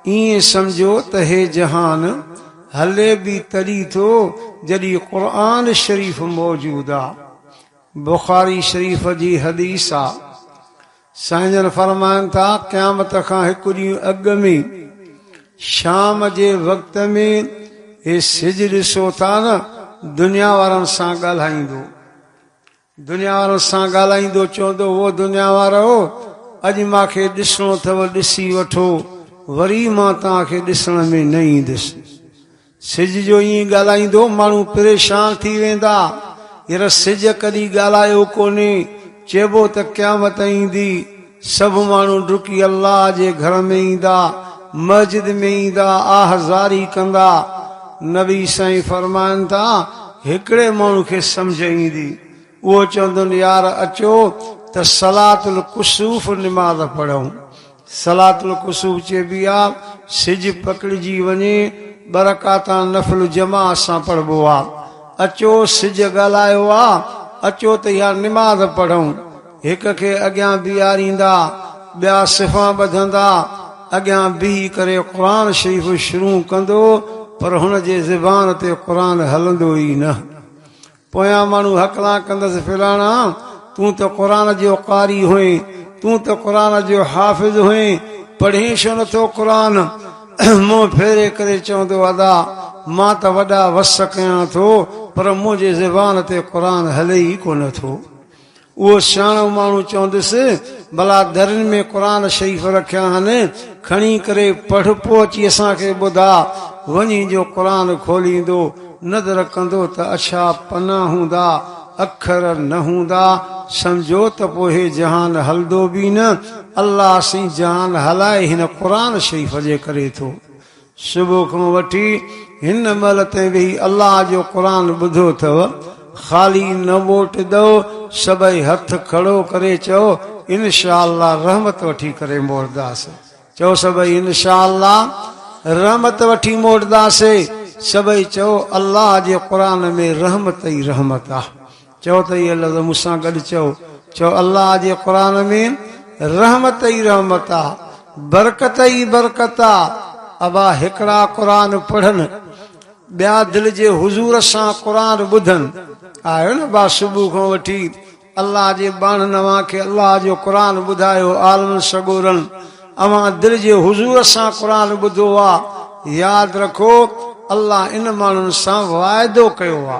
ائين سمجهو ته هي جهان هلي به تڏي ٿو جڏي قرآن شريف موجود آ. بخاري شريف جي حديث آ. سائين جن فرمائن ٿا قيامت کان هڪ ڏينهن اڳ ۾ شام جي وقت ۾ هي سج ڏسو ٿا نه دنيا وارن سان ڳالهائيندو. دنيا وارن سان ڳالهائيندو چوندو هو دنيا وارؤ! اڄ مان کي ڏسڻو اٿو ڏسي وٺو، وري مان توهان کي ڏسڻ ۾ نه ايندس. سج جو ائين ڳالهائيندو ماڻهو پريشان ٿي ويندا، ير سج ڪڏهن ڳالهايو ڪونهي، چئبو ته قيامت ايندي، سڀ ماڻهو ڊڪي الله جي گهر ۾ ايندا، مسجد ۾ ايندا، آهه زاري ڪندا. نبي سائين فرمائن ٿا، هڪڙي ماڻهو کي سمجهه ايندي، اهو چوندون يار اچو ته صلات الڪسوف نماز پڙهون. صلات الڪسوف چئبي آ، سج پڪڙجي وڃي ٻه رڪعتان نفل جماعت سان پڙهبو آ. اچو سج ڳالهايو آ، اچو ته اها نماز پڙهون. هڪ کي اڳيان بيهاريندا، ٻيا صفا ٻڌندا، اڳيان بيهي ڪري قرآن شريف شروع ڪندو پر هن جي زبان تي قرآن هلندو ئي نه. پويان ماڻهو هڪلان ڪندس فلاڻا تون ته قرآن جو قاري هئين، تون ته قرآن جو حافظ هئين، پڙهين ڇو نه ٿو قرآن؟ منهن ڦيري ڪري چوندو ادا مان ته وڏا وس ڪيان ٿو پر منهنجي زبان تي قرآن هلي ئي ڪونه ٿو. اهو سياڻو ماڻهو چونديس، ڀلا درين ۾ قرآن شريف رکيا آهن، کڻي ڪري پڙهه پوء اچي اسان کي ٻڌاء. وڃي جو قرآن کوليندو، نظر ڪندو ته اڇا پنا هوندا، اکر نه هوندا، سمجهو ته پوء هي جهان هلندو به نه. الله سين جهان هلائي هن قرآن شريف جي ڪري ٿو. صبح کان وٺي هن مهل تائين ويهي الله جو قرآن ٻڌو اٿئو، خالي نه ووٽ ڏئو، سڀئي هٿ کڙو ڪري چئو انشاء الله رحمت وٺي ڪري موٽداس، چئو سڀئي انشاء الله رحمت وٺي موٽداسي، سڀئي چئو الله جي قرآن ۾ رحمت ئي رحمت آ. چؤ ته اهي لفظ مون سان گڏ چئو، چئو، الله جي قرآن ۾ رحمت ئي رحمت آ، برڪت ئي برڪت آ. ابا هڪڙا قرآن پڙهن، ٻيا دل جي حضور سان قرآن ٻڌن. آهيو نه ابا صبح کان وٺي الله جي ٻانهن اوهان کي الله جو قرآن ٻڌايو، عالمن سڳورن اوهان دل جي حضور سان قرآن ٻڌو آ، ياد رکو الله ان ماڻهن سان واعدو ڪيو آ.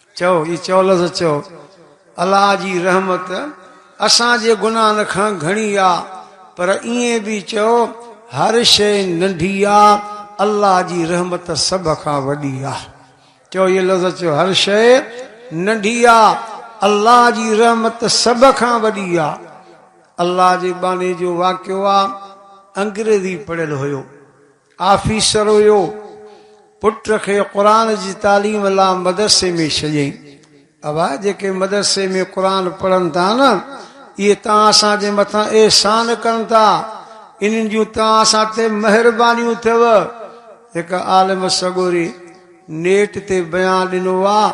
چئو، هي چئو لفظ چئو، الله جي رحمت اسان جي گناهن کان گهڻي آ، پر ائين به چئو، هر شيء ننڍي آ، الله جي رحمت سڀ کان وڏي آ. چئو، هي لفظ چئو، هر شيء ننڍي آ، الله جي رحمت سڀ کان وڏي آ. الله جي ٻانهي جو واقعو آ، انگريزي پڙهيل هيو. آفيسر هيو. پٽ کي قرآن جي تعليم لا مدرسي ۾ ڇڏيائين. ابا جيڪي مدرسي ۾ قرآن پڙهن ٿا نه اهي توهان اسان جي مٿان احسان ڪن ٿا. انهن جون توهان اسان تي مهربانيون اٿيو. هڪ عالم سڳوري نيٽ تي بيان ڏنو آهي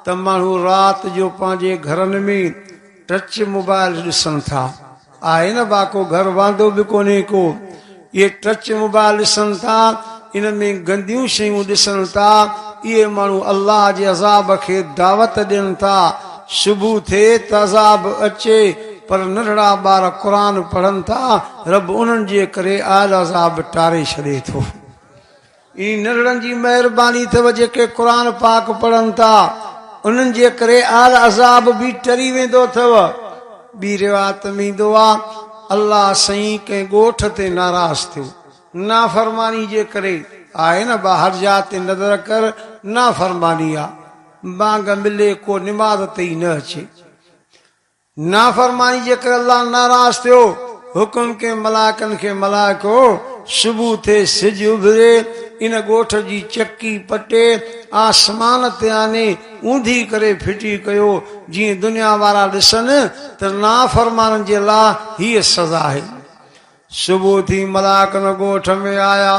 ته ماڻهو رات جو پنهنجي گهرن ۾. ٽچ موبائل ڏسن ٿا آهي نه باڪو گهر واندو به ڪونهي ڪو اهي ٽچ موبائل ڏسن ٿا ان ۾ گنديون شيون ڏسن ٿا اهي ماڻهو الله جي عذاب کي دعوت ڏين ٿا صبح ٿئي ته عذاب اچي پر ننڍڙا ٻار قرآن پڙهن ٿا رب انهن جي ڪري آيل عذاب ٽاري ڇڏي ٿو. اي نرڙن جي مهرباني اٿئو جيڪي قرآن پاڪ پڙهن ٿا انهن جي ڪري اهل عذاب به ٽري ويندو اٿئو ٻي روايت ۾ ايندو آ الله سئين ڪنهن ڳوٺ تي ناراض ٿيو نافرماني جي ڪري آهي نه ٻاهر جا تي نظر ڪر نافرماني آ بانگ ملي ڪو نماز تي ئي نه اچي. نافرماني جي ڪري الله ناراض ٿيو، حڪم ڪيم ملائڪن کي، ملائڪو! صبح ٿئي، سج اڀري، ان ڳوٺ جي چڪي پٽي، آسمان تي آني، اونڌي ڪري ڦٽي ڪيو، جيئن دنيا وارا ڏسن ته نافرمانن جي لاء هيء سزا آهي. صبح ٿي ملائڪن ڳوٺ ۾ آيا.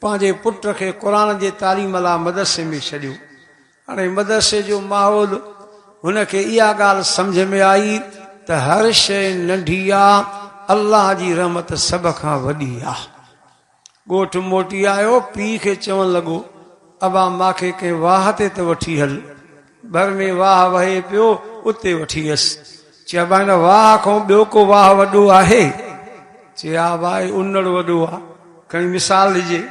پنهنجي پٽ کي قرآن جي تعليم لاء مدرسي ۾ ڇڏيو. هاڻي مدرسي جو ماحول، هن کي اها ڳالهه سمجهه ۾ آئي ته هر شيء ننڍي آ، الله جي رحمت سڀ کان وڏي آ. ڳوٺ موٽي آيو، پيء کي چوڻ لڳو، ابا ماکي ڪنهن واهه تي ته وٺي هل. ڀر ۾ واهه وهي پيو اتي وٺي ويس. چي ابا هن واهه کان ٻيو ڪو واهه وڏو آهي؟ چي ها ابا هي انڙ وڏو آ کڻي مثال ڏجي.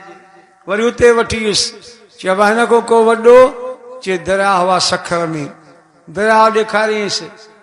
وري اتي وٺي ويس. چي ابا هن کان ڪو وڏو؟ چي درياهه آ سکر ۾. درياهه ڏيکاريائينس.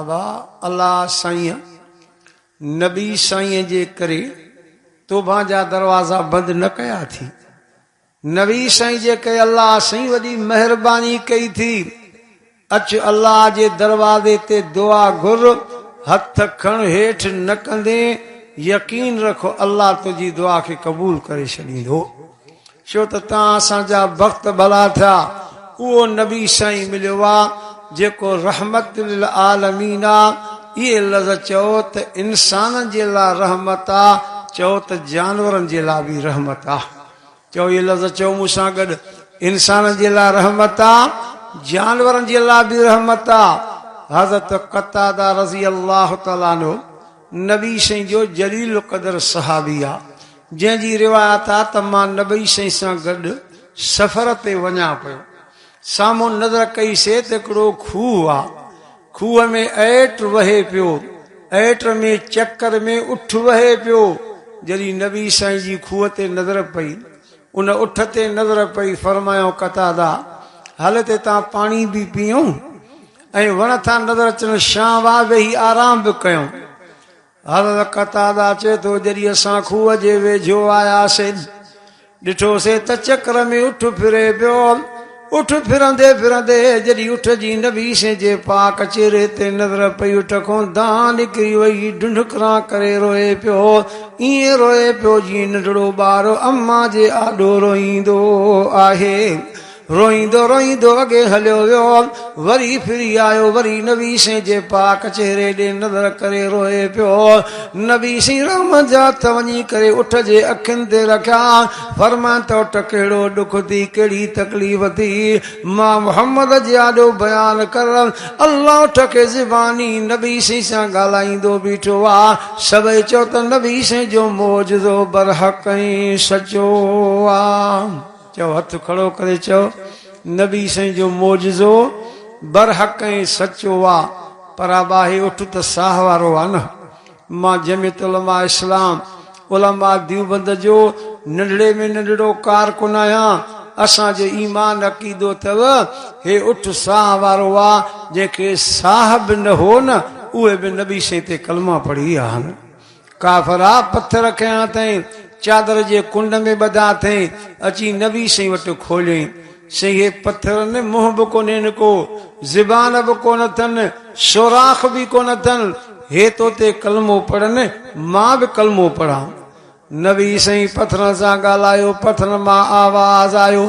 ابا الله سائين نبي سائين جي ڪري توبان جا دروازا بند نه ڪيا ٿي نبي سائين جي ڪري الله سائين وڏي مهرباني ڪئي ٿي اچ الله جي دروازي تي دعا گهر هٿ کڻ هيٺ نه ڪندين يقين رک الله تنهنجي دعا کي قبول ڪري ڇڏيندو. ڇو ته تان اسان جا بخت ڀلا ٿيا اهو نبي سائين مليو آ جيڪو رحمت للعالمين آ اهي لظ چئو ته انسانن جي لا رحمت آ چئو ته جانورن جي لا به رحمت آ چئو اهي لظ چئو مون سان گڏ انسانن جي لا رحمت آ جانورن جي لا به رحمت آ حضرت قتاده رضي الله تعالي عنه نبي سائين جو جليل القدر صحابي آ جنهن جي روايت آ ته مان نبي سائين سان گڏ سفر تي وڃان پيو. سامهون نظر ڪئي سي ته هڪڙو کوهه آ. کوهه ۾ ايٽ وهي پيو. ايٽ ۾ چڪر ۾ اٺ وهي پيو. جڏهن نبي سائين جي کوهه تي نظر پئي. ان اٺ تي نظر پئي. فرمايائون قتاده! هل ته تان پاڻي به پيئون ۽ وڻ ٿا نظر اچن شانهن واه ويهي آرام به ڪيون. حضرت قتاده چي ٿو جڏهن اسان کوهه جي ويجهو آياسين ڏٺوسين ته چڪر ۾ اٺ ڦري پيو اٺ ڦرندي ڦرندي جڏهن اٺ جي نبي سين جي پاڪ چهري تي نظر پئي اٺ کون دانهن نڪري وئي ڍنڍڪران ڪري روئي پيو ائين روئي پيو جيئن ننڍڙو ٻار امان جي آڏو روئيندو آهي روئيندو روئيندو اڳي هليو ويو، وري ڦري آيو، وري نبي سين جي پاڪ چهري ڏي نظر ڪري روئي پيو. نبي سين رحمت جا هٿ وڃي ڪري اٺ جي اکين تي رکيا، فرمائين ته اٺ ڪهڙو ڏک ٿي، ڪهڙي تڪليف ٿي، مان محمد جي آڏو بيان ڪر. الله اٺ کي زباني نبي سين سان ڳالهائيندو بيٺو آ، سڀئي چئو ته نبي سين جو معجزو برحق ۽ سچو آ. چئو هٿ کڙو ڪري چئو نبي سائين جو معجزو برحق ۽ سچو آ پر آ ٻاهي اٺ ته ساهه وارو آ نه مان جمعيت علماء اسلام علماء ديوبند جو ننڍڙي ۾ ننڍڙو ڪارڪن آهيان اسان جو ايمان عقيدو تئو هي اٺ ساهه وارو آ جنهن کي ساهه به نه هو نه اهي به نبي سائين تي ڪلما پڙهي آهن ڪافرا پٿر کنيا اٿئين، چادر جي ڪنڊ ۾ ٻڌا اٿئين، اچي نبي سائين وٽ کوليائين. سائين هي پٿر ۾ منهن به ڪونهين ڪو، زبان به ڪونه اٿن، سوراخ به ڪونه اٿن، هي تو تي ڪلمو پڙهن، مان به ڪلمو پڙهان. نبي سائين پٿرن سان ڳالهايو، پٿرن مان آواز آيو.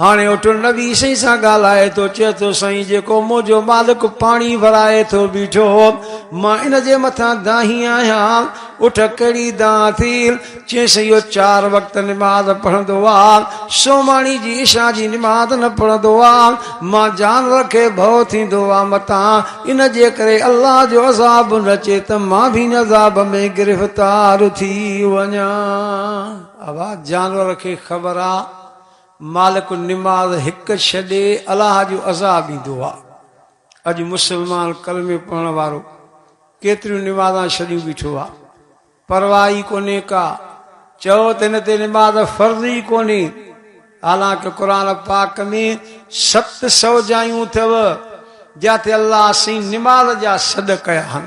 هاڻي اٺ نبي سائين سان ڳالهائي ٿو چئي ٿو سائين جيڪو منهنجو مالڪ پاڻي ورائي ٿو بيٺو هو مان ان جي مٿان دانهي آهيان اٺ ڪهڙي دانهن ٿي چيس اهو چار وقت نماز پڙهندو آهي سوماڻي جي عشا جي نماز نه پڙهندو آهي مان جانور کي ڀؤ ٿيندو آهي متان ان جي ڪري الله جو عذاب نه اچي ته مان به ان عذاب ۾ گرفتار ٿي وڃان اها جانور کي خبر آهي مالڪ النماز هڪ ڇڏي الله جو عذاب ايندو آ اڄ مسلمان ڪلمي پڙهڻ وارو ڪيتريون نمازان ڇڏيون بيٺو آ پرواهه ئي ڪونهي ڪا چئو ته هن تي نماز فرض ئي ڪونهي حالانڪه قرآن پاڪ ۾ ست سو جايون اٿئو جاتي الله سين نماز جا سڏ ڪيا هن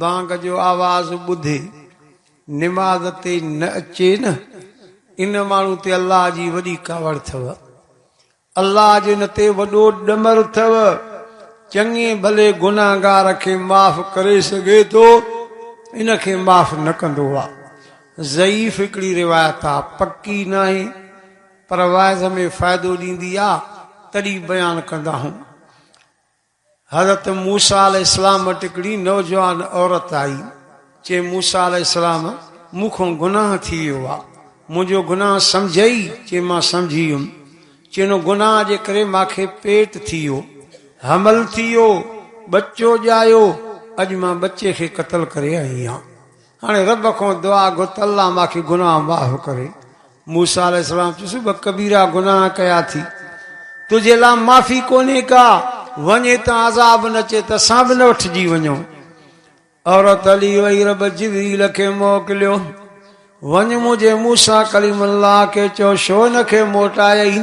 بانگ جو آواز ٻڌي نماز تي نه اچي نه ان ماڻهو تي الله جي وڏي ڪاوڙ اٿئو. الله جو ان تي وڏو ڏمر اٿئو. چڱي ڀلي گنهگار کي معاف ڪري سگهي ٿو ان کي معاف نه ڪندو آ. ضعيف هڪڙي روايت آ پڪي ناهي پر واعظ ۾ فائدو ڏيندي آ تڏي بيان ڪندا هون. حضرت موسيٰ عليه السلام وٽ هڪڙي نوجوان عورت آئي، چي، موسيٰ عليه السلام! مون کان گناهه ٿي ويو آ، منهنجو گناهه سمجهئي؟ چي، مان سمجهي ويم. چي، ان گناهه جي ڪري مان کي پيٽ ٿي ويو، حمل ٿي ويو، ٻچو ڄايو، اڄ مان ٻچي کي قتل ڪري آئي آهيان. هاڻي رب کان دعا گهر ته الله مان کي گناهه معاف ڪري. موسيٰ عليه السلام چيس به ڪبيرا گناهه ڪيا ٿي تنهنجي لا معافي ڪونهي ڪا وڃ هتان عذاب نه چي ته اسان به نه وٺجي وڃون. عورت هلي وئي رب جبريل کي موڪليو وڃ منهنجي موسيٰ ڪليم الله کي چئو شو نه کي موٽائي.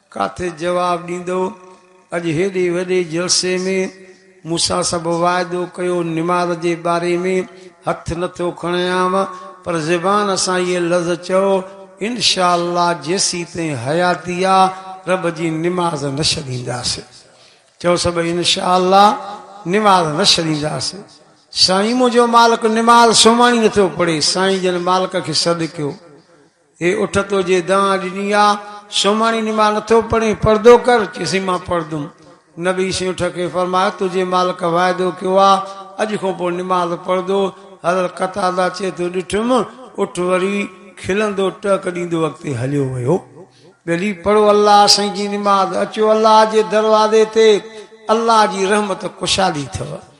ڪاٿي جواب ڏيندو؟ اڄ هيڏي وڏي جلسي ۾ مون سان سڀ واعدو ڪيو، نماز جي باري ۾ هٿ نه ٿو کڻيانء، پر زبان سان هيء لفظ چئو، انشاء الله جيسيتائين حياتي آ، رب جي نماز نه ڇڏينداسين. چئو سڀ انشاء الله نماز نه ڇڏينداسين. سائين منهنجو مالڪ نماز سوماڻي نه ٿو پڙهي، سائين جن مالڪ کي سڏ ڪيو. هي اٺ تو جي دانهن ڏني آ، سوماڻي نماز نٿو پڙهين، پردو ڪر، چيسين مان پڙهندم. نبي سين اٺ کي فرمايو، تنهنجي مالڪ واعدو ڪيو آ، اڄ کان پوء نماز پڙهندو. حضرت قتاده چئي ٿو، ڏٺم، اٺ وري کلندو ٽهڪ ڏيندو اڳتي هليو ويو. ٻيلي، پڙهو الله سائين جي نماز، اچو الله جي دروازي تي، الله جي رحمت ڪشادي اٿئو.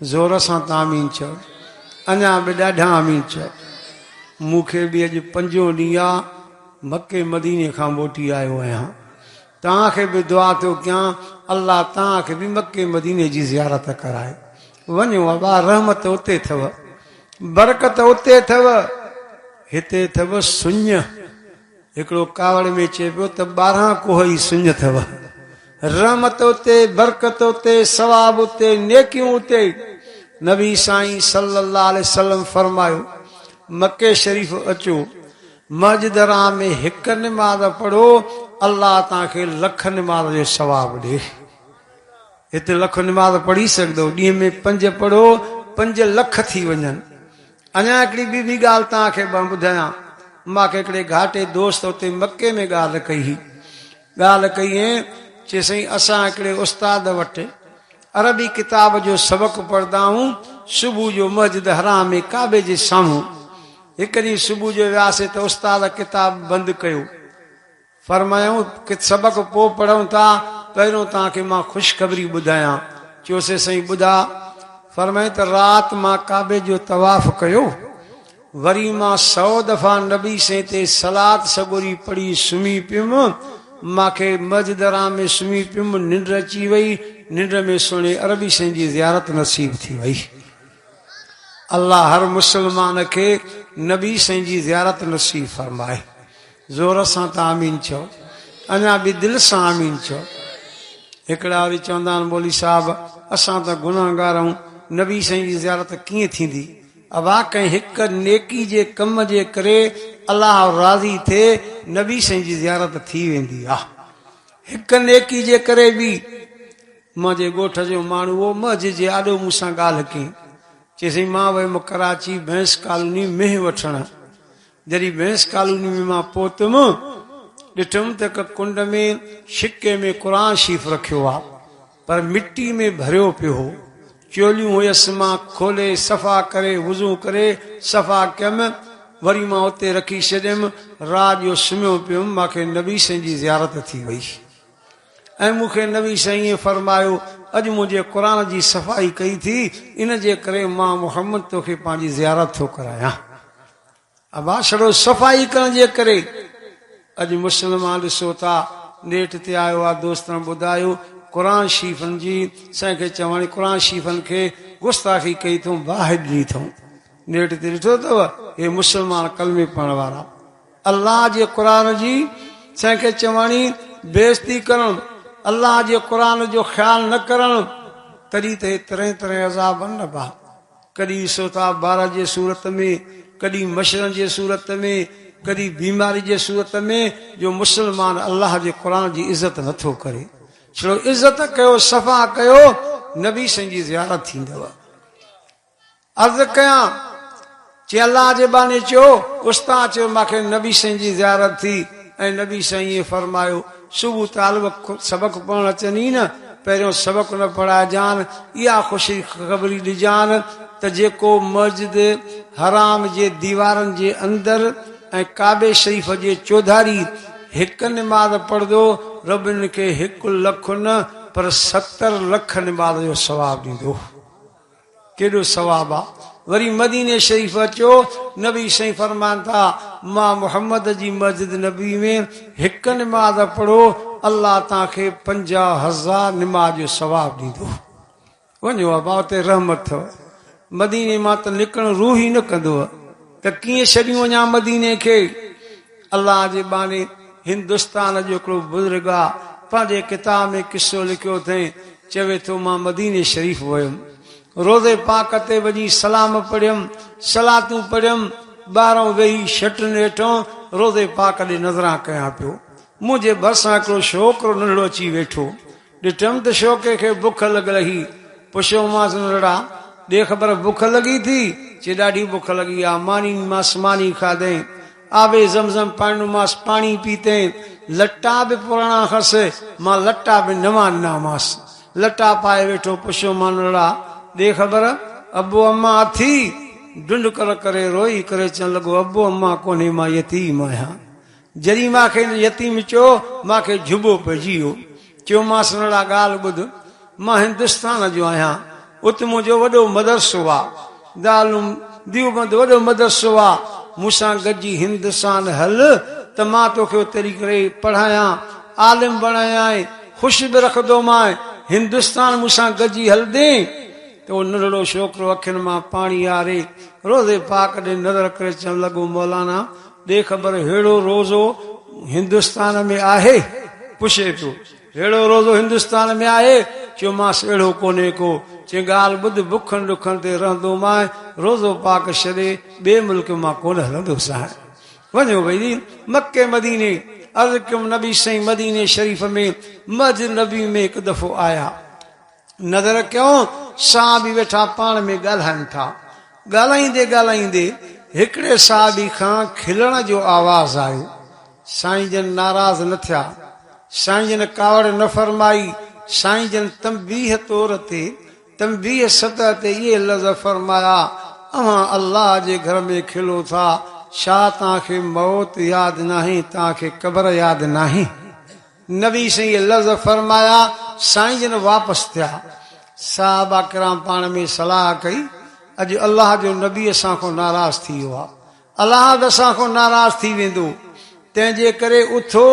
زور سان ته آمين چئو. اڃا به ڏاڍا آمين چئو. مون کي به اڄ پنجون ڏينهن آ مڪي مديني کان موٽي آيو آهيان. توهان کي به دعا ٿو ڪيان الله توهان کي به مڪي مديني جي زيارت ڪرائي. وڃو ابا رحمت اتي اٿو. برڪت اتي اٿو. هتي اٿو سڃ. هڪڙو ڪاوڙ ۾ چئي پيو ته ٻارهان ڪوهه ئي سڃ اٿئو. رحمت اتي، برڪت اتي، ثواب اتي، نيڪيون اتي. نبي سائين صلي الله عليه وسلم فرمايو، مڪي شريف اچو، مسجد حرام ۾ هڪ نماز پڙهو، الله توهان کي لک نماز جو ثواب ڏي. هتي لک نماز پڙهي سگهندؤ، ڏينهن ۾ پنج پڙهو، پنج لک ٿي وڃن. اڃا هڪڙي ٻي به ڳالهه توهان کي مان ٻڌايان. مان هڪڙي گهاٽي دوست اتي مڪي ۾ ڳالهه ڪئي هئي. ڳالهه ڪئي هئين، چي سائين اسان هڪڙي استاد وٽ عربي ڪتاب جو سبق پڙهندا هئون، صبح جو مسجد حرام ۾ ڪعبي جي سامهون. هڪ ڏينهن صبح جو وياسي ته استاد ڪتاب بند ڪيو. فرمايائون، ڪٿ سبق پوء پڙهون ٿا، پهريون توهان کي مان خوشخبري ٻڌايان. چيوسين، سائين ٻڌاء. فرمايائون ته رات مان ڪعبي جو طواف ڪيو، وري مان سئو دفعا نبي سين تي صلات سڳوري پڙهي سمهي پيم، مان کي مسجد حرام ۾ سمهي پيم، ننڊ اچي وئي، ننڊ ۾ سهڻي عربي سين جي زيارت نصيب ٿي وئي. الله هر مسلمان کي نبي سائين جي زيارت نصيب فرمائي. زور سان ته آمين چئو اڃا به دل سان آمين چئو هڪڙا وري چوندا آهن مولوي صاحب اسان ته گناهگار آهيون نبي سائين جي زيارت ڪيئن ٿيندي اوا ڪنهن هڪ نيڪي جي ڪم جي ڪري الله راضي ٿي نبي سائين جي زيارت ٿي ويندي آ هڪ نيڪي جي ڪري به مان جي ڳوٺ جو ماڻهو هو مجھ جي آڏو مون سان ڳالهه ڪئي چيسين مان ويم ڪراچي بئنس ڪالوني مينهن وٺڻ جڏهن بينس ڪالوني ۾ مان پهتم، ڏٺم ته هڪ ڪنڊ ۾ شڪي ۾ قرآن شريف رکيو هو، پر مٽي ۾ ڀريو پيو هو. چوليون هيس، مان کولي صفا ڪري وضو ڪري صفا ڪيم، وري مان اتي رکي ڇڏيم، رات جو سمهيو پيم، مان کي نبي سائين جي زيارت ٿي وئي ۽ مون کي نبي سائين ائين فرمايو، اڄ منهنجي قرآن جي صفائي ڪئي ٿي، ان جي ڪري مان محمد توکي پنهنجي زيارت ٿو ڪرايان. ڀاسڙو صفائي ڪرڻ جي ڪري اڄ مسلمان ڏسو ٿا نيٽ تي آيو آ دوستن ٻڌايو قرآن شريفن جي سائين کي چوڻي قرآن شريفن کي گستاخي ڪئي ٿئون باهه ڏني ٿئون نيٽ تي ڏٺو اٿو هي مسلمان ڪلمي پڙهڻ وارا الله جي قرآن جي سائين کي چوڻي بيزتي ڪرڻ الله جي قرآن جو خيال نه ڪرڻ تڏهن ته هي طرح طرح عذابن نه باهه ڪڏهن سوتاب بارا جي صورت ۾، ڪڏهن مشرن جي صورت ۾، ڪڏهن بيماري جي صورت ۾، جو مسلمان الله جي قرآن جي عزت نه ٿو ڪري. ڇڙو عزت ڪيو صفا ڪيو نبي سائين جي زيارت ٿيندو. عرض ڪيان چي الله جي ٻانهي چيو استاد چيو مانکي نبي سائين جي زيارت ٿي ۽ نبي سائينء فرمايو صبح طالب سبق پڙهڻ اچن ئي نه، پهريون سبق نه پڙهائجان، اها خوش خبري ڏجان ته جيڪو مسجد حرام جي ديوارن جي اندر ۽ ڪعبي شريف جي چوڌاري هڪ نماز پڙهندو، رب ان کي هڪ لک نه پر ستر لک نماز جو ثواب ڏيندو. ڪيڏو ثواب آ. وري مديني شريف اچو نبي سائين فرمان ٿا مان محمد جي مسجد نبوي ۾ هڪ نماز پڙهو الله تان کي پنجاهه هزار نماز جو ثواب ڏيندو وڃو ابا اتي رحمت ٿو مديني مان ته نڪرڻ روح ئي نه ڪندو ته ڪيئن ڇڏيون وڃان مديني کي الله جي ٻانهي هندستان جو هڪڙو بزرگ آ پنهنجي ڪتاب ۾ قصو لکيو اٿئين چوي ٿو مان مديني شريف ويم روضي پاڪ تي وڃي سلام پڙهيم صلاتون پڙهيم ٻاهران ويهي شٽن هيٺان روضي پاڪ ڏي نظران ڪيان پيو منهنجي ڀرسان هڪڙو شوڪرو ننڍڙو اچي ويٺو ڏٺم ته شوقي کي بک لڳل هئي. پڇيومانس، نرڙا، ڏي خبر بک لڳي ٿي؟ چي، ڏاڍي بک لڳي آ. ماني ڏنيمانس، ماني کاڌئين. آب زمزم پاڻي ڏنومانس، پاڻي پيتئين. لٽا به پراڻا هئس، مان لٽا به نوان ڏنامانس. لٽا پائي ويٺو. پڇيومانس، نرڙا، ڏي خبر ابو امان اٿي؟ ڍنڍڪر ڪري روئي ڪري چون لڳو، ابو امان ڪونهي مان يتيم آهيان. جڏهن مان کيس يتيم چيو، مان کي جهٻو پئجي ويو. چيومانس، سنهڙا ڳالهه ٻڌ، مان هندستان جو آهيان، ات منهنجو وڏو مدرسو آ. دارالعلوم ديوبند وڏو مدرسو آ، مون سان گڏجي هندستان هل ته مان توکي اتي رهي ڪري پڙهايان، عالم بڻايانء، خوش به رکندومانء، هندستان مون سان گڏجي هلندين؟ ته اهو ننڍڙو ڇوڪرو اکين مان پاڻي آري روضي پاڪ ڏي نظر ڪري چوڻ لڳو، مولانا! ڏي خبر ههڙو روزو هندستان ۾ آهي؟ پڇي ٿو، ههڙو روزو هندستان ۾ آهي؟ چيومانس، اهڙو ڪونهي ڪو. چيائين، ڳالهه ٻڌ، بکن ڏکن تي رهندو مانء، روزو پاڪ ڇڏي ٻئي ملڪ مان ڪونه هلندو سانء. وڃو ڀئي مڪي مديني. عرض ڪيم، نبي سائين مديني شريف ۾ مهجر نبوي ۾ هڪ دفعو آيا. نظر ڪيو صحابي ويٺا پاڻ ۾ ڳالهائن ٿا. ڳالهائيندي ڳالهائيندي هڪڙي صحابي کان کلڻ جو آواز آيو. سائين جن ناراض نه ٿيا. سائين جن ڪاوڙ نه فرمائي. سائين جن تنبيهه طور تي، تنبيهه سطح تي اهي لفظ فرمايا، اوهان الله جي گهر ۾ کلو ٿا، ڇا توهان کي موت ياد ناهي، توهان کي قبر ياد ناهي؟ نبي سائين اهي لفظ فرمايا، سائين جن واپس ٿيا. صحابه ڪرام پاڻ ۾ صلاح ڪئي، اڄ الله جو نبي اسان کان ناراض ٿي ويو آهي. الاحد اسان کان ناراض ٿي ويندو، تنهن جي ڪري اٿو،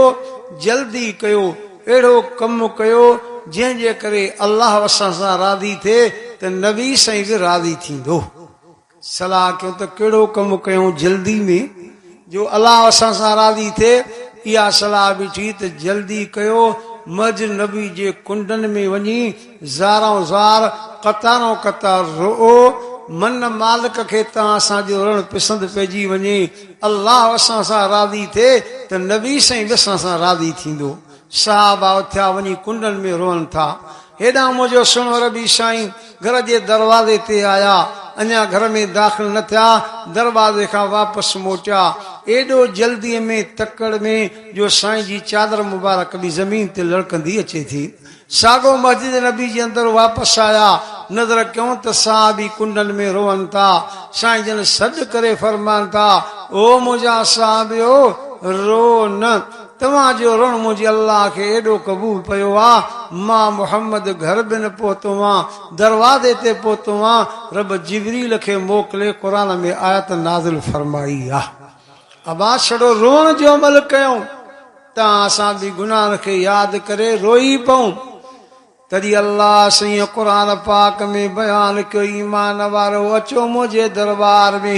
جلدي ڪيو، اهڙو ڪم ڪيو، جنهن جي ڪري الله اسان سان راضي ٿئي ته نبي سائين به راضي ٿيندو. صلاح ڪيو ته ڪهڙو ڪم ڪيون جلدي ۾ جو الله اسان سان راضي ٿئي، اها صلاح به ٺهي ته جلدي ڪيو، مھجر نبي جي ڪنڊن ۾ وڃي زارئون زار، قطارئون قطار رئو، من نه مالڪ کي تان اسان جو رڙڻ پسند پئجي وڃي، الله اسان سان راضي ٿئي ته نبي سائين به اسان سان راضي ٿيندو، صحابه اٿيا وڃي ڪنڊن ۾ روئن ٿا. هيڏانهن منهنجو سهڻو ربي سائين گهر جي دروازي تي آيا. اڃا گهر ۾ داخل نه ٿيا، دروازي کان واپس موٽيا. ايڏو جلديء ۾ تڪڙ ۾، جو سائين جي چادر مبارڪ به زمين تي لڙڪندي اچي ٿي. ساڳو مسجد نبي جي اندر واپس آيا. نظر ڪيون ته صحابي ڪنڊن ۾ روئن ٿا. سائين جن سڏ ڪري فرمائن ٿا، او منهنجا صحابيو! روئو نه. توهان جو رڻ منهنجي الله کي ايڏو قبول پيو آ، مان محمد گهر به نه پهتو هئان، دروازي تي پهتو هئان، رب جبريل کي موڪلي قرآن ۾ آيت نازل فرمائي آ. ابا ڇڙو روئڻ جو عمل ڪيائون تان اسان به گناهن کي ياد ڪري روئي پئون. تڏهن الله سائين قرآن پاڪ ۾ بيان ڪيو ايمان وارؤ اچو منهنجي دربار ۾.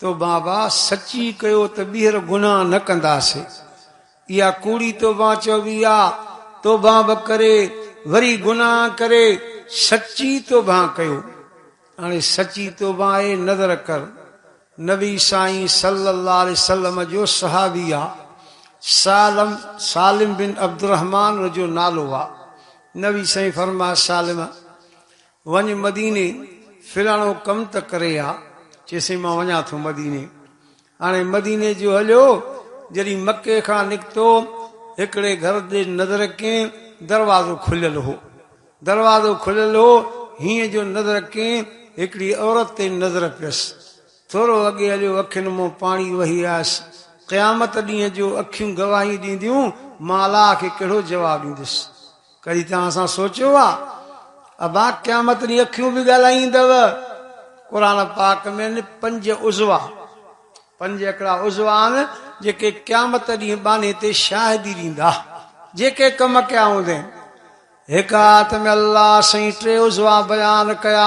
توبه ڀاء سچي ڪيو ته ٻيهر گناهه نه ڪنداسين اها ڪوڙي توبه چئبي آ توبه به ڪري وري گناهه ڪري سچي توبه ڪيو هاڻي سچي توبه اي نظر ڪر نبي سائين صلي الله عليه وسلم جو صحابي آ سالم سالم بن عبدالرحمان ان جو نالو آ نبي سائين فرمايو سالم وڃ مديني، فلاڻو ڪم ته ڪري آ. چيسين مان وڃان ٿو مديني. هاڻي مديني جو هليو. جڏهن مڪي کان نڪتو، هڪڙي گهر ڏي نظر ڪين، دروازو کليل هو. دروازو کليل هو، هينئن جو نظر ڪين، هڪڙي عورت تي نظر پيس. ٿورو اڳي هليو، اکين منهن پاڻي وهي آيس. قيامت ڏينهن جو اکيون گواهيون ڏينديون، مان الله کي ڪهڙو جواب ڏيندس. ڪڏهن توهان سان سوچيو آ ابا قيامت ڏينهن اکيون به ڳالهائيندؤ؟ قرآن پاڪ ۾ آهن پنج عضوا، پنج هڪڙا عضوا آهن جيڪي قيامت ڏينهن ٻانهي تي شاهدي ڏيندا، جيڪي ڪم ڪيا هوندين. هڪ آيت ۾ الله سائين ٽي عضوا بيان ڪيا.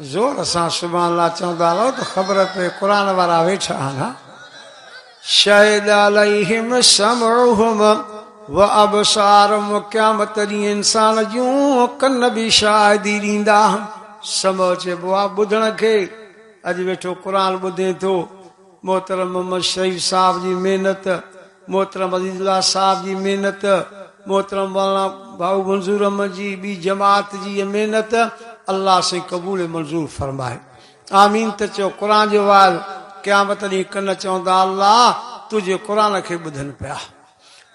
زور سان سبحان الله چوندا رهو ته خبر پئي قرآن وارا ويٺا آهن ها شهد عليهم سمعهم وابصارهم قيامت ڏينهن انسان جون ڪن به شاهدي ڏيندا سمع چئبو آ ٻڌڻ کي اڄ ويٺو قرآن ٻڌين ٿو محترم محمد شريف صاحب جي محنت محترم عزيز الله صاحب جي محنت، محترم مولانا ڀائو منظور احمد جي ٻي جماعت جي اها محنت الله سائين قبول ۽ منظور فرمائي. آمين ته چئو قرآن جو وعظ قيامت ڏينهن ڪن چوندا الله تنهنجي قرآن کي ٻڌن پيا.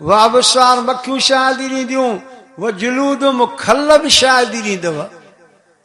وابصار مکيون شاهدي ڏينديون وجلود مخلب شاهدي ڏيندو.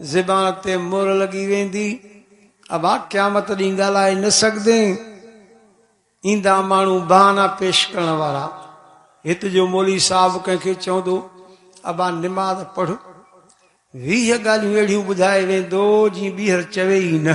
زبان تي مھر لڳي ويندي، ابا قيامت ڏينھن ڳالھائي نه سگھدين. ايندا ماڻھو بھانا پيش ڪرڻ وارا. ھت جو مولوي صاحب ڪنھن کي چوندو، ابا نماز پڙھ. ويھه ڳالھيون اھڙيون ٻڌائي ويندو، جيئن ٻيھر چوي ئي نه.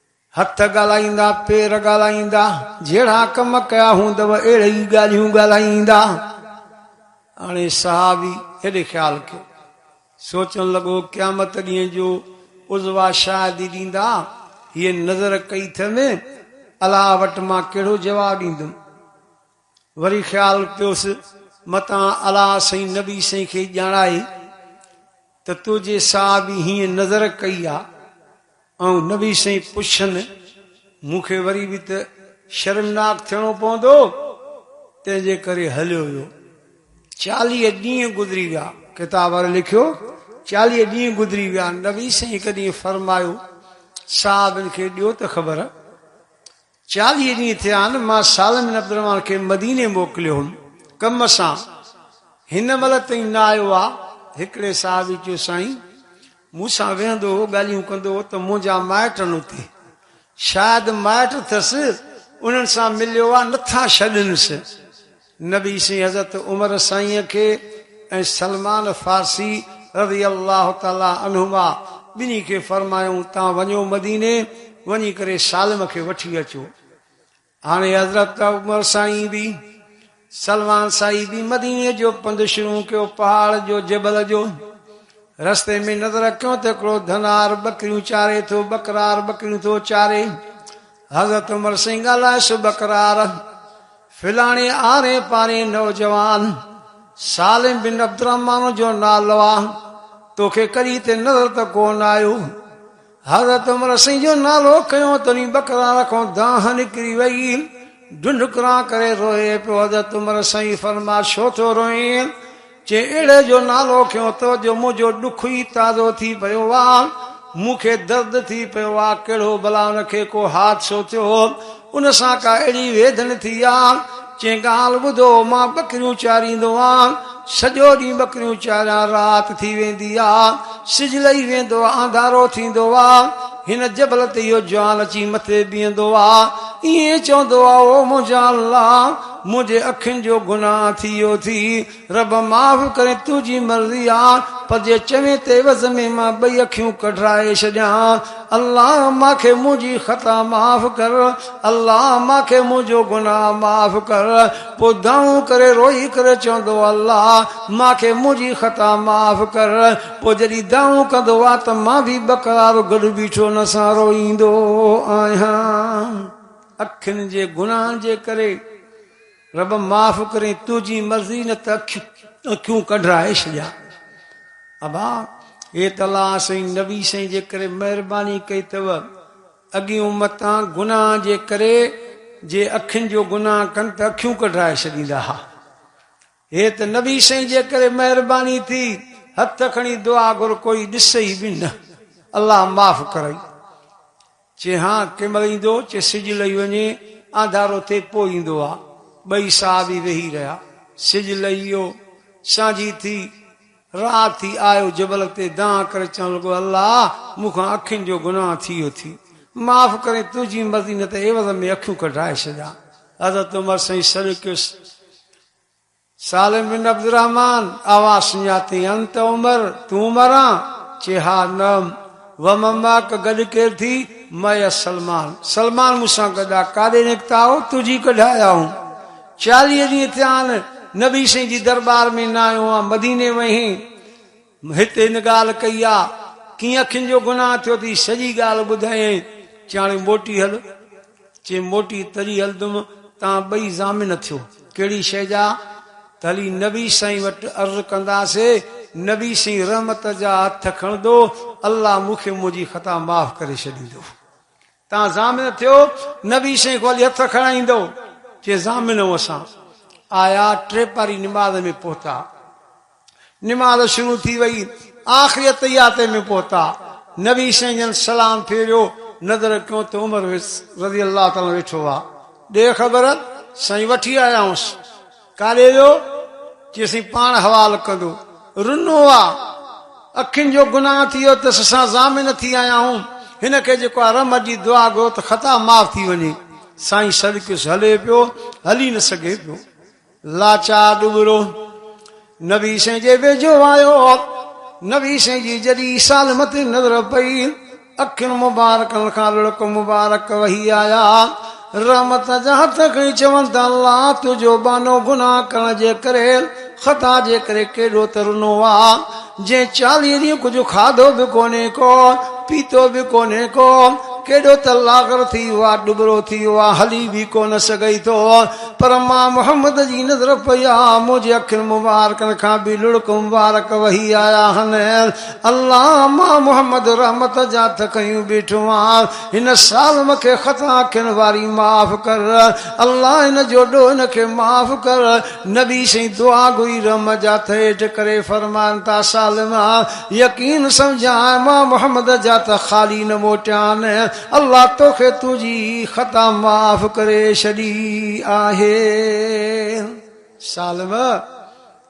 هٿ ڳالهائيندا، پير ڳالهائيندا، جهڙا ڪم ڪيا هوندؤ اهڙي ئي ڳالهيون ڳالهائيندا. هاڻي صحابي هيڏي خيال ڪيو. سوچڻ لڳو، قيامت ڏينهن جو عضوا شاهدي ڏيندا، هيء نظر ڪئي اٿم، الله وٽ مان ڪهڙو جواب ڏيندم؟ وري خيال پيوس متان الا سائين نبي سائين کي ڄاڻائي ته تنهنجي صحابي هيئن نظر ڪئي آ ۽ نبي سائين پڇن مون کي وري به ته شرمناڪ ٿيڻو پوندو تنهن جي ڪري هليو ويو چاليهه ڏينهن گذري ويا. ڪتاب واري لکيو چاليهه ڏينهن گذري ويا نبي سائين هڪ ڏينهن فرمايو صحابين کي ڏيو ته خبر چاليهه ڏينهن ٿيا آهن مان صالح بن عبدالرحمان کي مديني موڪليو هوم ڪم سان هن مهل تائين نه آيو آ هڪڙي صحابي چيو سائين مون سان ويهندو هو ڳالهيون ڪندو هو ته منهنجا مائٽ آهن اتي شايد مائٽ اٿس انهن سان مليو آ نٿا ڇڏنس. نبي سين حضرت عمر سائين کي ۽ سلمان فارسي رضي الله تعالي عنهما ٻنهي کي فرمايائون تان وڃو مديني وڃي ڪري سالم کي وٺي اچو. هاڻي حضرت عمر سائين به سلمان سائين به مديني جو پنڌ شروع ڪيو پهاڙ جو جبل جو رستي ۾ نظر رکيون ته هڪڙو ڌنار ٻڪريون چاري ٿو ٻڪرار ٻڪريون ٿو چاري حضرت عمر سنگهه الائي سو ٻڪرار، فلاڻي آرين پارين نوجوان، سالم بن عبدالرحمان جو نالو آ، توکي ڪڏهن تي نظر ته ڪونه آيو؟ حضرت عمر سنگهه جو نالو کنيو تڏهن ٻڪرار کان دانهن نڪري وئي، ڍنڍڪران ڪري روئي پيو، حضرت عمر سائين فرمايو ڇو ٿو روئين؟ چيڙهي جو نالو کنيو ته جو منهنجو ڏک ئي تازو ٿي پيو آ. مون کي درد ٿي پيو آ. ڪهڙو بلا ان کي ڪو حادثو ٿيو. ان سان ڪا اهڙي ويڌڻ ٿي آ. چيائين ڳالهه ٻڌو مان ٻڪريون چاريندو آ. سڄو ڏينهن ٻڪريون چاريان رات ٿي ويندي آ. سج لهي ويندو آ. انڌارو ٿيندو آ. هن جبل تي اهو جوان اچي مٿي بيهندو آ ائين چوندو آ او منهنجا الله! منهنجي اکين جو گناهه ٿي ويو ٿي، رب معاف ڪرين تنهنجي مرضي آ پر جي چوين ته عوض ۾ مان ٻئي اکيون ڪڍرائي ڇڏيان، الله مان کي منهنجي خطا معاف ڪر، الله مان کي منهنجو گناهه معاف ڪر، پوء دانهون ڪري روئي ڪري چوندو الله مان کي منهنجي خطا معاف ڪر، پوء جڏهن دانهون ڪندو آ ته مان به ٻه ڪلاڪ گڏ بيٺو ان سان روئيندو آهيان. اکين جي گناهن جي ڪري رب معاف ڪرين تنهنجي مرضي نه ته اکيون ڪڍرائي ڇڏيان. ابا هي ته الله سائين نبي سائين جي ڪري مهرباني ڪئي اٿو. اڳين امتان گناهن جي ڪري جي اکين جو گناهه ڪن ته اکيون ڪڍرائي ڇڏيندا ها. هي ته نبي سائين جي ڪري مهرباني ٿي هٿ کڻي دعا گهر ڪوئي ڏسئي به نه الله معاف ڪرئي چي ها ڪنهن مهل ايندو چي سج لهي وڃي آنڌارو ٿئي پوء ايندو آ ٻئي صحابي ويهي رهيا سج لهي ويو سانجهي ٿي رات ٿي آيو جبل تي دانهن ڪري چوڻ لڳو الله مون کان اکين جو گناهه ٿي ويو ٿي معاف ڪرين تنهنجي مرضي نه ته عيوض ۾ اکيون ڪڍرائي ڇڏيان حضرت عمر سائين سڏ ڪيس سالم بن عبدالرحمان، اوا سڃاتي انت عمر، تون عمران؟ چي ها، نعم، ومن معک، گڏ ڪير ٿي؟ معي السلمان، سلمان مون سان گڏ آ، ڪاڏي نڪتا آهو؟ تجھي ڪڍ آيا آهون، چاليهه ڏينهن ٿيا آهن، نبي سائين جي درٻار ۾ نه آيو آهان، مديني وئين هين؟ هت هن ڳالهه ڪئي آ، ڪيئن اکين جو گناهه ٿيو ٿي، سڄي ڳالهه ٻڌايائين، چي هاڻي موٽي هل، چي موٽي تڏهن هلندم توهان ٻئي ضامن ٿيو، ڪهڙي شيء جا؟ ته هلي نبي سائين وٽ عرض ڪنداسي، نبي سائين رحمت جا هٿ کڻندو، الله مون کي منهنجي خطا معاف ڪري ڇڏيندو. تان ضامن ٿيو، نبي سائين کان ولي هٿ کڻائيندو، چيائين ضامن ائون اسان آيا ٽي پهري نماز ۾ پهتا، نماز شروع ٿي وئي، آخري اتحيات ۾ پهتا، نبي سائين جن سلام ڦيريو، نظر ڪيون ته عمر رضي الله تعالٰي عنه ويٺو آ، ڏي خبر، سائين وٺي آيائونس. ڪاڏي ويو؟ چيسين پاڻ حوال ڪندو. رنو آ. اکين جو گناهه ٿي ويو تس سان ضامن ٿي آيا هون. هن کي جيڪو آ رحمت جي دعا گهرو ته خطا معاف ٿي وڃي. سائين سڏڪيس هلي پيو. هلي نه سگهي پيو. لاچار ڏٻرو نبي سائين جي ويجهو آيو. نبي سائين جي جڏهن سالمت نظر پئي اکين مبارڪن کان لڙڪ مبارڪ وهي آيا. رحمت جا هٿ کڻي چون ٿا الله تنهنجو ٻانهو گناهه ڪرڻ جي ڪري، خطا جي ڪري ڪيڏو ته رنو آ. جنهن چاليهه ڏينهن ڪجهه کاڌو به ڪونهي ڪو، پيتو به ڪونهي ڪو، ڪيڏو ته لاغر ٿي ويو آ، ڏٻرو ٿي ويو آ، هلي به ڪو نه سگهي ٿو. پر مان محمد جي نظر پئي آ، منهنجي اکين مبارڪن کان به لڙڪ مبارڪ وهي آيا آهن. علامه محمد رحمت جا تھ ڪيون بيٺو آھن ھن سال مون کي خطا اکين واري معاف ڪر الله ھن جو ڏوھ ھن کي معاف ڪر نبي سھين دعا گوئي رحم جا تھ ھيٺ ڪري فرمائن ٿا سالم يقين سمجھان امام محمد جا تھ خالي نھ موٽيان الله توکي تنھنجي خطا معاف ڪري ڇڏي آھي سالم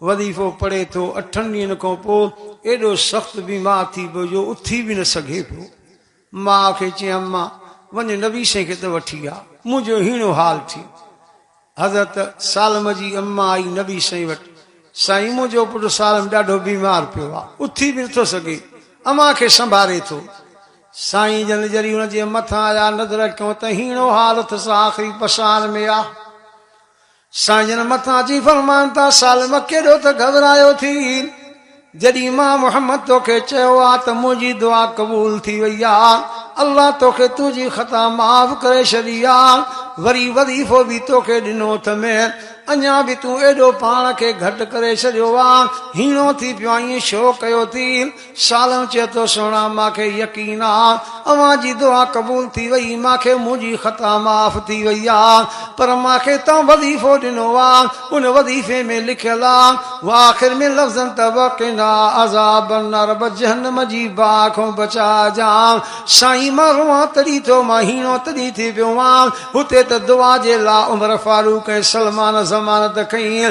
وظيفو پڙهي ٿو، اٺن ڏينهن کان پوء ايڏو سخت بيمار ٿي پيو جو اٿي به نه سگهي پيو. ماء کي چيائين اما! وڃ نبي سائين کي ته وٺي آ، منهنجو هيڻو حال ٿي. حضرت سالم جي اما آئي نبي سائين وٽ، سائين منهنجو پٽ سالم ڏاڍو بيمار پيو آ، اٿي به نٿو سگهي، اوهان کي سنڀاري ٿو. سائين جن جري ان جي مٿان آيا، نظر ڪيو ته هيڻو حال اٿس، آخري پساهن ۾ آ. سائين جن مٿان اچي فرمائن ٿا، سالم ڪيڏو ته گهٻرايو ٿي، جڏهن مان محمد توکي چيو آ ته منهنجي دعا قبول ٿي وئي آ، الله توکي تنهنجي خطا معاف ڪري ڇڏي آ، وري وظيفو به توکي ڏنو اٿم، اڃا به تون ايڏو پاڻ کي گهٽ ڪري ڇڏيو آ، هيڻو ٿي پيو آهين، ڇو ڪيو ٿي؟ سالم چئي ٿو، سهڻا مان کي يقين آ اوهان جي دعا قبول ٿي وئي، مان کي منهنجي خطا معاف ٿي وئي آ، پر مان کي توهان وظيفو ڏنو آ، ان وظيفي ۾ لکيل آ و آخر ۾ لفظن ته وقنا عذاب النار به جهنم جي باهه کان بچائجان سائين مان روئان تڏهن ٿو مان هيڻو تڏهن ٿي پيو آ، هتي ته دعا جي لا عمر فاروق ۽ سلمان ضمانت کنئين.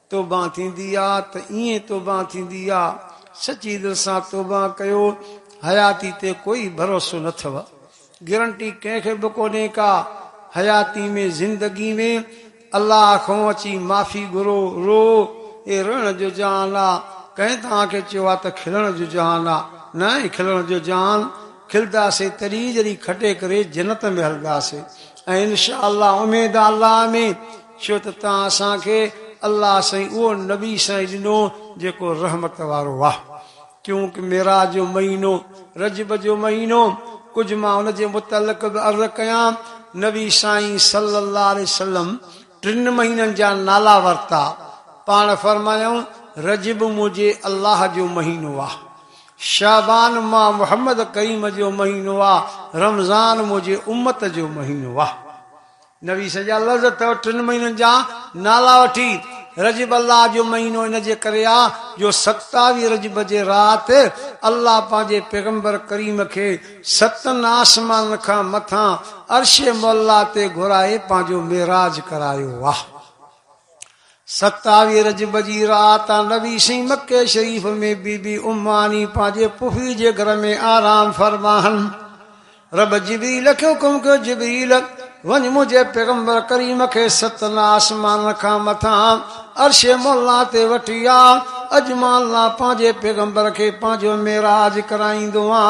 توبه ٿيندي آ ته ائين توبه ٿيندي آ سچي دل سان توبه ڪيو حياتي تي ڪوئي ڀروسو نه ٿو گرنٽي ڪنهن کي به ڪونهي ڪا حياتي ۾ زندگي ۾ الله کون اچي معافي گهرو رو اي روئڻ جو جهان آ ڪنهن توهان کي چيو آ ته کلڻ جو جهان آ نه اي کلڻ جو جهان کلداسي تڏهن جڏهن کٽي ڪري جنت ۾ هلداسي ۽ انشاء الله اميد آ الله ۾ ڇو ته تان اسان کي الله سائين اهو نبي سائين ڏنو جيڪو رحمت وارو آ. ڪيونڪ معراج جو مهينو رجب جو مهينو ڪجهه مان ان جي متعلق به عرض ڪيان نبي سائين صلي الله عليه وسلم ٽن مهينن جا نالا ورتا پاڻ فرمايائون رجب منهنجي الله جو مهينو آ شعبان مان محمد ڪريم جو مهينو آ رمضان منهنجي امت جو مهينو آ. نويس جا لفظ اٿئو ٽن مهينن جا نالا وٺي، رجب الله جو مهينو ان جي ڪري آ جو ستاويهه رجب جي رات الله پنهنجي پيغمبر ڪريم کي ستن آسمانن کان مٿان عرش معليٰ تي گهرائي پنهنجو معراج ڪرايو آ. ستاويهه رجب جي رات نبي سين مڪي شريف ۾ بي بي ام ماني پنهنجي پڦي جي گهر ۾ آرام فرماهن رب جبريل کي حڪم ڪيو جبريل وڃ منهنجي پيغمبر ڪريم کي ستن آسمانن کان مٿان عرش مولا تي وٺي آ اڄ مان الله پنهنجي پيغمبر کي پنهنجو معراج ڪرائيندو آ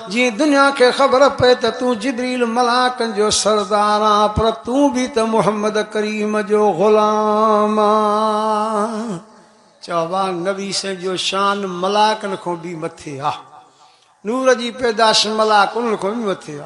جيئن دنيا کي خبر پئي ته تون جبريل ملائڪن جو سردار آن پر تون به ته محمد ڪريم جو غلام آن. چئبو آ نبي سائين جو شان ملائڪن کان به مٿي آ نور جي پيدائش ملائڪ انهن کان به مٿي آ.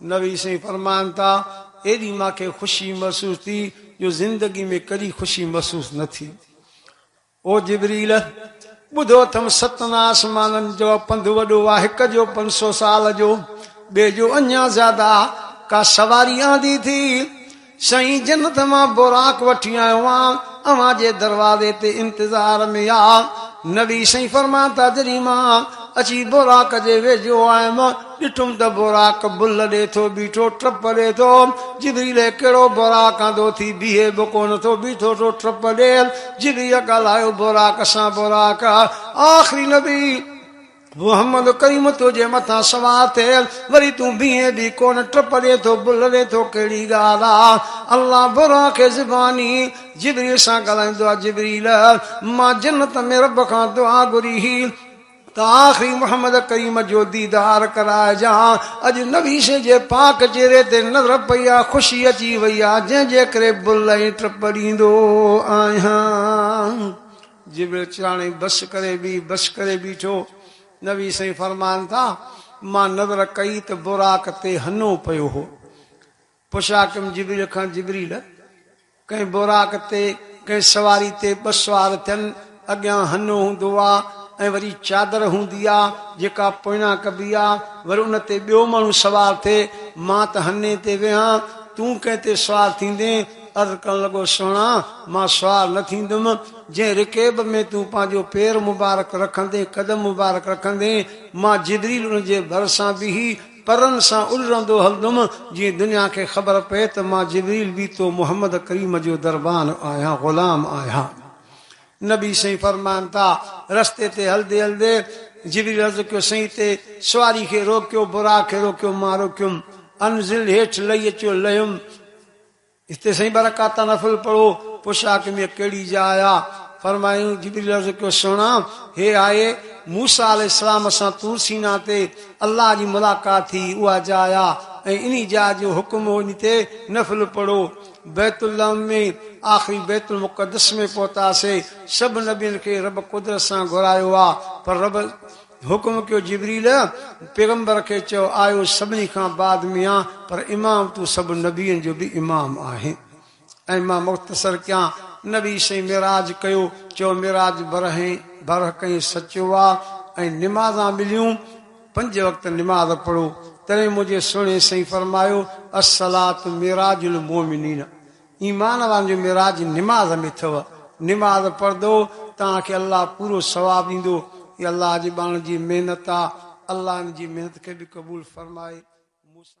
نبي سائين فرمائن ٿا، ايڏي مان کي خوشي محسوس ٿي جو زندگي ۾ ڪڏهن خوشي محسوس نه ٿي. او جبريل! ٻڌو اٿم ستن آسمانن جو پنڌ وڏو آ، هڪ جو پنج سو سال جو، ٻئي جو اڃا زياده آ، ڪا سواري آندي ٿي؟ سائين جنت مان براق وٺي آيو آهيان اوهان جي دروازي تي انتظار ۾ آ. نبي سائين فرمائن ٿا جڏهن مان اچي براق جي ويجهو آيم ڏٺم ته براق بل ڏي ٿو بيٺو ٽپ ڏي ٿو جبريل هي ڪهڙو براق انڌو ٿي بيهي به ڪونه ٿو بيٺو ٿو ٽپ ڏي جبريل ڳالهايو براق سان براق آخري نبي محمد ڪريم تنهنجي مٿان سوار ٿي وري تون بيهين به ڪونه ٽپڙين ٿو بلڙين ٿو ڪهڙي ڳالهه آ الله براق کي زباني جبريل سان ڳالهائيندو آ جبريل مان جنت ۾ رب کان دعا گهري هئي ته آخري محمد ڪريم جو ديدار ڪرائجان اڄ نويسين جي پاڪ چهري تي نظر پئي آ خوشي اچي وئي آ جنهن جي ڪري بل ۽ ٽپڙيندو آهيان. جبريل چياڻي بس ڪري بيھ بس ڪري بيٺو نبي سائين فرمائن ٿا مان نظر ڪئي ته براق تي ھنو پيو ھو پشاڪم جبريل کان جبريل ڪنھن براق تي ڪنھن سواري تي ٻه سوار ٿين اڳيان ھنو ھوندو آ ۽ وري چادر ھوندي آ جيڪا پوئيان ڪبي آ وري ان تي ٻيو ماڻھو سوار ٿئي مان ته ھني تي ويھان تون ڪنھن تي سوار ٿيندين عرض ڪرڻ لڳو، سهڻا! مان سوار نه ٿيندم، جنهن رڪيب ۾ تون پنهنجو پير مبارڪ رکندين، قدم مبارڪ رکندين، مان جبريل ان جي ڀرسان بيهي، پرن سان الرندو هلندم، جيئن دنيا کي خبر پئي ته مان جبريل بيتو محمد ڪريم جو دربان آهيان، غلام آهيان. نبي سائين فرمائن ٿا، رستي تي هلدي هلدي، جبريل عرض ڪيو، سائين تي سواري کي روڪيو، براق کي روڪيو، مان روڪيم، انزل، هيٺ لهي اچو، لهيم، هتي سائين ٻه رڪعتا نفل پڙهو، پڇا ڪي مينهن ڪهڙي جاء آ؟ فرمايائون، جبريل عرض ڪيو، سهڻا! هيء آهي، موسيٰ عليه السلام سان طور سيناء تي الله جي ملاقات ٿي، اها جاء آ، ۽ انهي جاء جو حڪم هو ان تي نفل پڙهو. بيت اللحم ۾ آخري بيت المقدس ۾ پهتاسين، سڀ نبين کي رب قدرت سان گهرايو آ، پر رب. حڪم ڪيو جبريل! پيغمبر کي چئو آء سڀني کان بعد ۾ آهيان پر امام تون سڀ نبين جو به امام آهين ۽ مان مختصر ڪيان نبي سائين معراج ڪيو چئو معراج برهين برحق ۽ سچو آ ۽ نمازان مليون پنج وقت نماز پڙهو تڏهن منهنجي سهڻي سائين فرمايو الصلات معراج المومنين ايمان وارن جو معراج نماز ۾ اٿئو. نماز پڙهدئو توهان کي الله پورو ثواب ڏيندو. هي الله جي ٻانهن جي محنت آ. الله هن جي محنت کي به قبول فرمائي. موسيٰ.